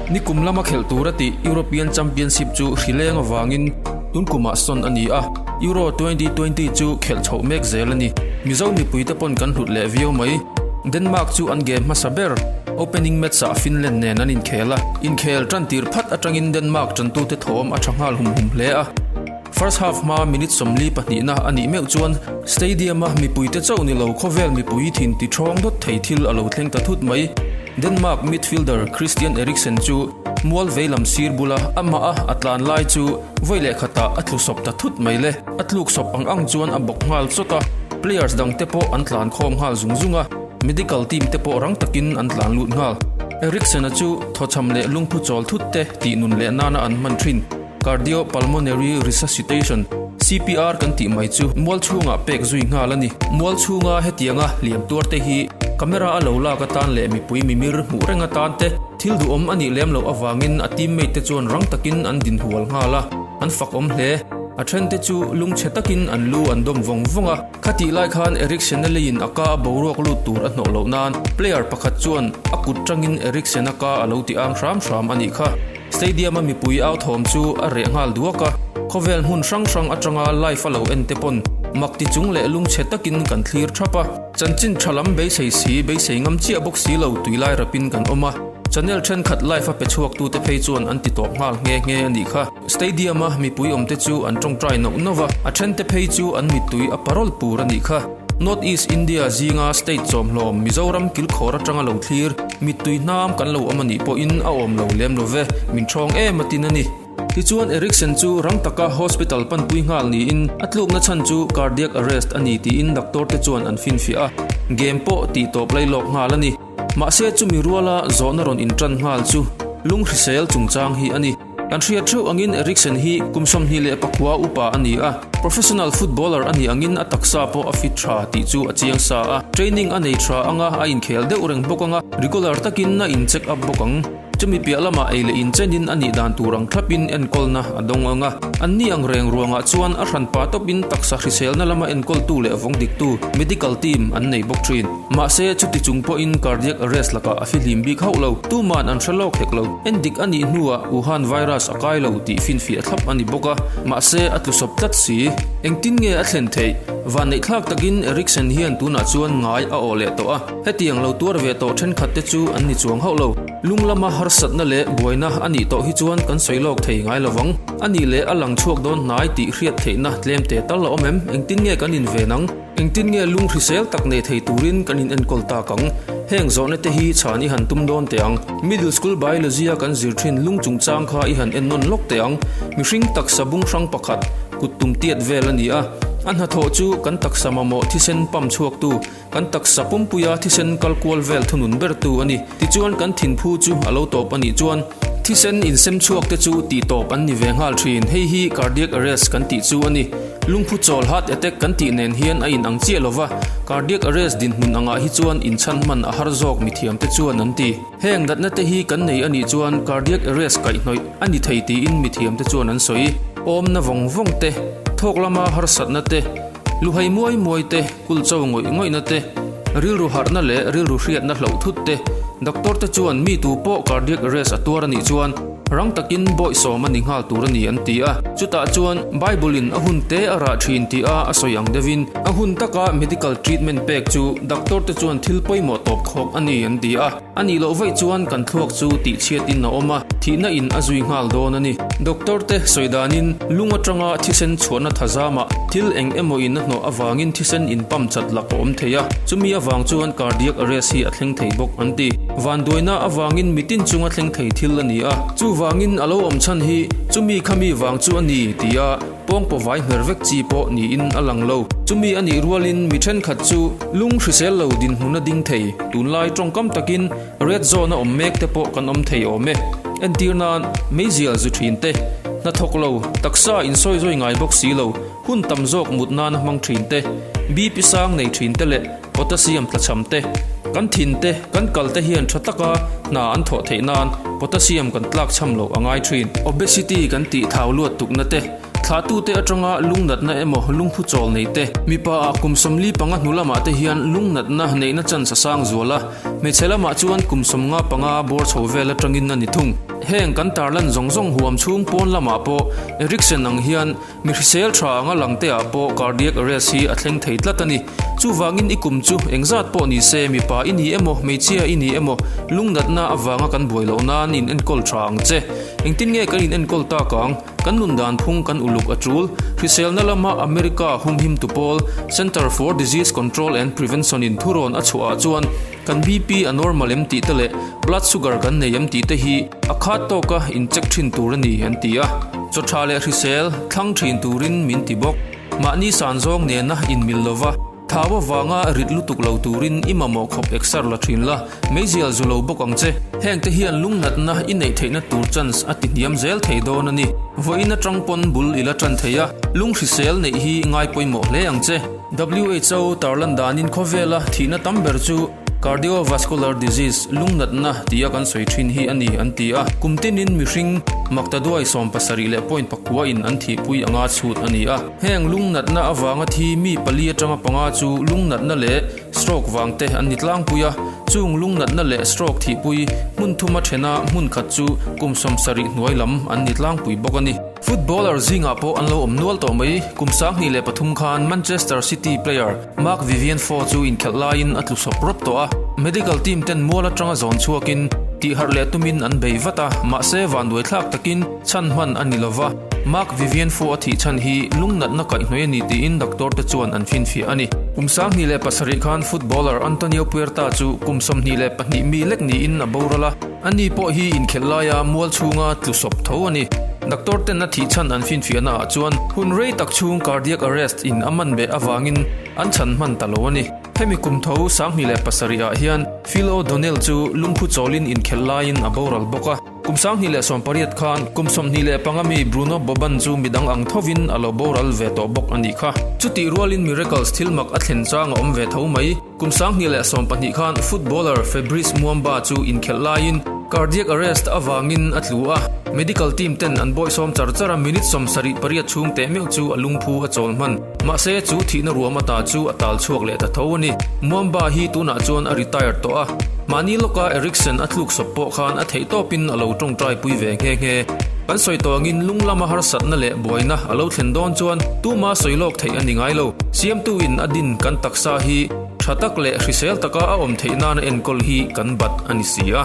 Nikum lama khelh tur a tih European Championship chu hri leng avangin tun kumah sawn a ni a, Euro twenty twenty chu khelh chhoh mek zel a ni. Mizo mipui te pawn kan hlut leh viau mai. Denmark chu an game hmasa ber, opening match ah Finland nen an inkhel a, inkhel tan tir phat atangin Denmark tantute thawm a tha nghal hum hum hle a. First half hma minute sawmli pahnihna a nih meuh chuan Stadium-a mipuite chauh ni lo khawvel mipui thin ti thawng dawt thei thil a lo thleng ta thut mai. Denmark midfielder Christian Eriksen chu mual veilam sir bula a hmaha a tlan lai chu vawi leh khata a thlu sawp ta thut mai le. A tluk sawp ang ang chuan a bawk nghal chawt a, players dangte pawh an tlan khawm nghal zung zung a, medical team te pawh rang takin an tlan lut nghal. Eriksen-a chu thawchham leh lungphu chawl thutte tih nun leh nana an hman thin. Cardiopulmonary Resuscitation, CPR, kan tih mai chu mual chhungah pek zui nghal a ni. Mual chhunga hetianga liam tuar te hi camera a lo lak atan leh mipui mimir hmuh reng atan te, thil duhawm a nih lem loh avangin a teammate te chuan rang takin an din hual nghal a, an fakawm hle. A then te chu lung chhe takin an lu an dawm vawng vawng a. Khatih lai khan Eriksen-a leiin a ka a boruak lut tur a hnawh loh nan player pakhat chuan a kut tangin Eriksen-a ka a lo ti ang hram hram a nih kha. Stadium-a mipui au thawm chu a reh nghal duak a, khawvel hmun hrang hrang atanga live-a lo en te pawn mak ti chung leh lung chhe takin kan thlir thap a. Chanchin tha lam beisei si, beisei ngam chiah bawk si lo tui lai rapin kan awm a, channel thenkhat live-a pe chhuaktute phei chuan an ti tawp nghal nghe nghe a nih kha. Stadium-a mipui awmte chu an tawngtai nauh nauh a, a thente phei chu an mittui a pa rawlh pur a nih kha. North East India zinga state chawmhlawm Mizoram kilkhawr atanga lo thlir mittui hnam kan lo awm anih pawhin a awm lo lem love, min thawng em a tin a ni. Tichuan Erickson chu rang taka hospital panpui nghal niin a tlukna chhan chu cardiac arrest a ni tiin doctor te chuan an finfiah a, gem pawh tih tawp lai lawk nghal a ni. Mahse chumi ruala zawhna rawn intan nghal chu lunghrisel chungchang hi a ni. Kan hriat theuh angin Eriksen hi kum sawmhnih leh pakua upa a ni a. Professional footballer a nih angin a taksa pawh a fit tha tih chu a chiang sa a. Training a nei tha anga a inkhel deuh reng bawk anga regular takin a in check up bawk ang. Chumi piah lamah ei leh inchenin a nih dan tur ang thlapin enkawlna a dawng anga an nih ang reng ruangah chuan a hranpa tawpin taksa hriselna lama enkawltu leh vawng diktu medical team an nei bawk thin. Mahse, chuti chung pawhin cardiac arrest lakah a fihlim bik hauh lo. Tuma'n an hre lawk hek lo. Endik a nih hnuah Wuhan virus a kai lo tih finfiah a thlap a ni bawk a, mahse a tlusawp tlat si. Engtin nge a thlen theih? Vanneithlak takin Eriksen hian tunah chuan ngai a aw leh tawh a. Hetiang lo tuar ve tawh thenkhatte chu an ni chuang hauh lo. Lunglama harsatna leh buaina a nih tawh hi chuan kan sawi lawk thei ngai lo vang. A nih leh a lang chhuak dawn hnai tih hriat theihna tlem te tal a awm em? Engtin nge kan inven ang? Engtin nge lung hrisel tak nei thei turin kan in enkawl tak ang? Heng zawhna te hi chhan i han tum dawn teh ang. Middle School Biology a kan zir thin lung chung chang kha i han en nawn lawk teh ang. Mihring taksa bung hrang pakhat kut tum tiat vel a ni a. A hnathawh chu kan taksa mamawh thisen pump chhuaktu, kan taksa pumpuia thisen kal kual vel thunun bertu a ni. Tichuan kan thinphu chu a lo tawp a nih chuan. Thisen insem chhuak te chu tihtawp an ni ve nghal thin. Hei hi cardiac arrest kan tih chu a ni. Lungphu chawl heart attack kan tih nen hian a in ang chiah lo va, cardiac arrest dinhmun angah hi chuan inchhan hman a har zawk mithiam te chuan an ti. Heng natna te hi kan nei a nih chuan cardiac arrest kaihhnawih a ni thei tiin mithiam te chuan an sawi. Awmna vawng vawng te, thawk lama harsatna te, lu hei muai muai te, Kulcho ngawih ngawihna te, rilru harhna leh rilru hriatna hloh thut te. Doctor te chuan mi tu pawh cardiac arrest a tuar a nih chuan rang takin bawi sawm a ni nghal tur a ni an ti a. Chutah chuan Bible-in a hun te a rah thin tia a sawi ang deuhin a hun taka medical treatment pek chu doctor te chuan thil pawimawh tawp khawk a ni an ti a. A nih loh vaih chuan kan thluak chu tihchhiatin a awm a, thihna in a zui nghal dawn a ni. Doctor te sawi danin lung atanga thisen chhuahna tha zama thil eng emaw in a hnawh avangin thisen in pump chat lak a awm thei a, chumi avang chuan cardiac arrest hi a thleng thei bawk an ti. Vanduaina avangin mitin chunga thleng thei thil a ni a, chuvangin a lo awm chhan hi chumi kha mi vang chu a ni, ti a. pawngpaw vai hner vek chi pawh niin a lang lo. Chumi a nih rualin mi thenkhat chu lung hrisel lo dinhmun a ding thei. Tunlai tawngkam takin red zone a awm mek te pawh kan awm thei awm e. Entir nan meizial zu thin te, hnathawk lo, taksa in sawi zawi ngai bawk si lo, hun tam zawk mut nana hmang thin te, bip i sang nei thin te leh Potassium tlachham te, Kan thin te, kan kal te hian tha taka hna an thawh theih nan potassium kan tlak chham loh a ngai thin. Obesity kan tih thau luat tukna te, Thlahtu te atanga lung natna emaw lung hmu chawl nei te. Mipa ah kum sawmli panga hnu lamah te hian lung natna neihna chance a sang zual a, hmeichhe lamah chuan kum sawm nga panga bawr chho vel atangin a ni thung. Heng kan tarlan zawng zawng huam chhung pawn lamah pawh Eriksen ang hian Mi hrisel tha anga lang te ah pawh cardiac arrest hi a thleng thei tlat a ni. Chuvangin i kum chu engzat pawh ni se mipa i ni emaw hmeichhia i ni emaw lungnatna avanga kan buai loh nan i inenkawl tha ang che. Engtin nge kan inenkawl tak ang? Kan nun dan phung kan uluk a tul. Hriselna lama America humhimtu pawl Center for Disease Control and Prevention-in thurawn a chhuah ah chuan, Kan BP a normal em tih te leh blood sugar kan nei em tih te hi a khat tawk a in check thin tur a ni an ti a. Chaw tha leh hrisel thlang thin turin min ti bawk. Mahni san zawng nena in mil lo va, thau avanga rit lutuk lo turin i mamawh khawp exer la thin la, meizial zu lo bawk ang che. Heng te hian lungnatna i neih theihna tur chance a ti hniam zel thei dawn a ni. Vawiin atang pawn bul ila tan thei a, lunghrisel neih hi ngai pawimawh hle ang che. Who tar lan danin khawvela thihna tam ber chu Cardiovascular Disease, lung natna, tia kan sawi thin hi a ni an ti a. Kum tinin mihring maktaduai sawm pasarih leh point pakua in an thihpui anga chhut a ni a. Heng lung natna avanga thi mi pali atanga panga chu lung natna leh stroke vang te an ni tlangpui a. Chung lung natna leh stroke thihpui hmun thuma thena hmun khat chu kum sawm sarih hnuai lam an ni tlangpui bawk a ni. Footballer zingah pawh an lo awm nual tawh mai. Kum sanghnih leh pathum khan Manchester City player Marc-Vivien Foe chu inkhelh laiin a tlu sawp rawt tawh a. Medical team ten mual atanga zawn chhuakin tihharh leh tumin an bei vat a, mahse vanduaithlak takin chhan hman a ni lo va. Marc-Vivien Foe a thih chhan hi lungnatna kaih hnuai a ni tiin doctor te chuan an finfiah a ni. Kum sanghnih leh pasarih khan footballer Antonio Puerta chu kum sawmhnih leh pahnih mi lek niin a boral a. Ani pawh hi inkhelh laia mual chhunga tlu sawp tho a ni. Doctor ten a thih chhan an finfiah naah chuan hun rei tak chhung cardiac arrest in a man beh avangin an chhan hman ta lo a ni. Hemi kum tho sanghnih leh pasarih ah hian Phil O Donnell chu lungphu chawlin inkhelh laiin a boral bawk a. Kum sanghnih leh sawm pariat khan kum sawmhnih leh panga mi Bruno Boban chu midang ang thovin a lo boral ve tawh bawk a ni kha. Chutih rualin Miracles thil mak a thlen chang a awm ve tho mai. Kum sang hnih leh sawm pahnih khan footballer Fabrice Muamba chu inkhelh laiin cardiac arrest avangin a tlu a. Medical team ten an bawihsawm char char a, minute sawm sarih pariat chhung teh meuh chu a lungphu a chawl hman. Mahse, chu thihna ruam ata chu a tal chhuak leh ta tho a ni. Muamba hi tunah chuan a retire tawh a, mahni lawka Eriksen a tluk sawp pawh khan a theihtawpin a lo tawngtaipui ve nghe nghe. Kan sawi tawngin lunglama harsatna leh. buaina a lo thlen dawn chuan tuma sawi lawk theih a ni ngai lo. Siamtu in a din kan taksa hi tha tak leh hrisel taka a awm theih nana enkawl hi kan bat a ni si a.